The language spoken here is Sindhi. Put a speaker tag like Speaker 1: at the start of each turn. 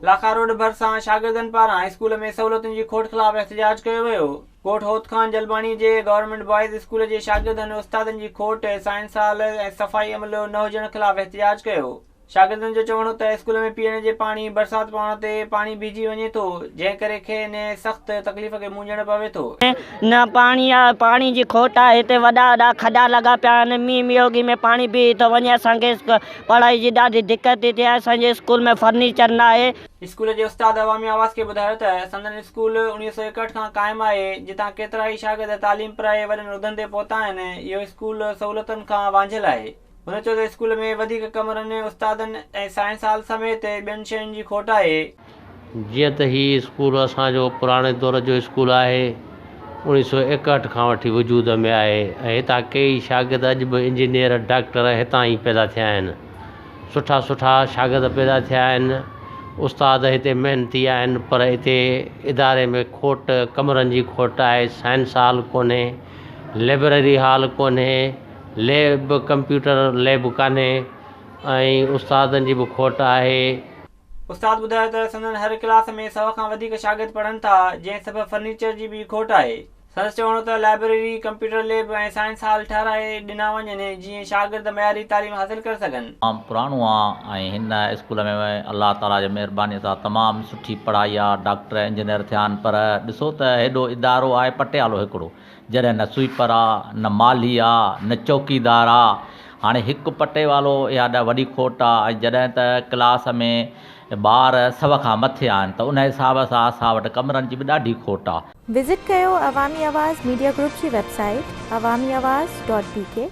Speaker 1: لاکا روڊ ڀرسان شاگردن پاران هاء اسڪول ۾ سهولتن جي کوٽ خلاف احتجاج ڪيو ويو. ڳوٺ هوت خان جلباڻي جي گورنمينٽ بوائز اسڪول جي شاگردن استادن جي کوٽ، سائنس هال ۽ صفائي عملو نه هجڻ خلاف احتجاج ڪيو. شاگردن جو چوڻ هو ته اسڪول ۾ پيئڻ جي پاڻي برسات پوڻ تي پاڻي بيهجي وڃي ٿو جنهن ڪري کين سخت تڪليف کي مونجهڻ پوي ٿو. نه پاڻي
Speaker 2: آ پاڻي جي کوٽ آ هتي وڏا وڏا کڏا لڳا پيا آهن مينهن ميوگي ۾ پاڻي بيهي ٿو وڃي اسان کي پڙهائي جي ڏاڍي دقت ٿي ٿئي اسان جي اسڪول ۾ فرنيچر نه آهي. اسڪول جي استاد
Speaker 1: عوامي آواز کي ٻڌايو ته سندن اسڪول اوڻيهه سؤ ايڪهٺ کان قائم آهي جتان ڪيترائي شاگرد تعليم پرائي وڏن عهدن تي پهتا آهن اهو اسڪول سهولتن کان وانجهيل آهي. هن چيو ته اسڪول ۾ وڌيڪ ڪمرن، استادن ۽ سائنس هال سميت ٻين شين جي کوٽ آهي. جيئن ته
Speaker 3: هي اسڪول اسان جو پراڻي دور جو اسڪول آهي، اوڻيهه سؤ ايڪهٺ کان وٺي وجود ۾ آهي ۽ هتان ڪيئي شاگرد اڄ به انجنيئر، ڊاڪٽر هتان ئي پيدا ٿيا آهن. سٺا سٺا شاگرد پيدا ٿيا آهن، استاد هتي محنتي آهن پر اتي اداري ۾ کوٽ، ڪمرن جي کوٽ آهي، سائنس هال ڪونهي، لئبرري هال ڪونهي. ليب، ڪمپيوٽر ليب ڪانهي ۽ استادن جي به کوٽ آهي. استاد
Speaker 1: ٻڌايو ته سندن هر ڪلاس ۾ سؤ کان وڌيڪ شاگرد پڙهن ٿا، جنهن سبب فرنيچر جي به کوٽ آهي. سندس چوڻ هو ته library, computer lab ۽ science hall ٺهرائي ڏنا وڃن، جيئن شاگرد معياري تعليم حاصل ڪري سگهن. تمام پراڻو آ ۽
Speaker 4: هن اسڪول ۾ الله تعاليٰ جي مهرباني سان تمام سٺي پڙهائي آ، ڊاڪٽر انجنيئر ٿيا آهن پر ڏسو ته هيڏو ادارو آهي پٽيالو هڪڙو، جڏهن نه سوئيپر آ، نه مالهي آ، نه چوڪيدار آ. هاڻي هڪ پٽيوالو اها ڏا وڏي کوٽ آ ۽ جڏهن ته ڪلاس ۾ ٻار سو کان مٿي آهن ته ان حساب سان اسان وٽ ڪمرن جي به ڏاڍي کوٽ آ. وزٽ ڪيو
Speaker 5: عوامي آواز ميڊيا گروپ جي ويب
Speaker 4: سائيٽ
Speaker 5: عوامي آواز ڊاٽ بي ڪي.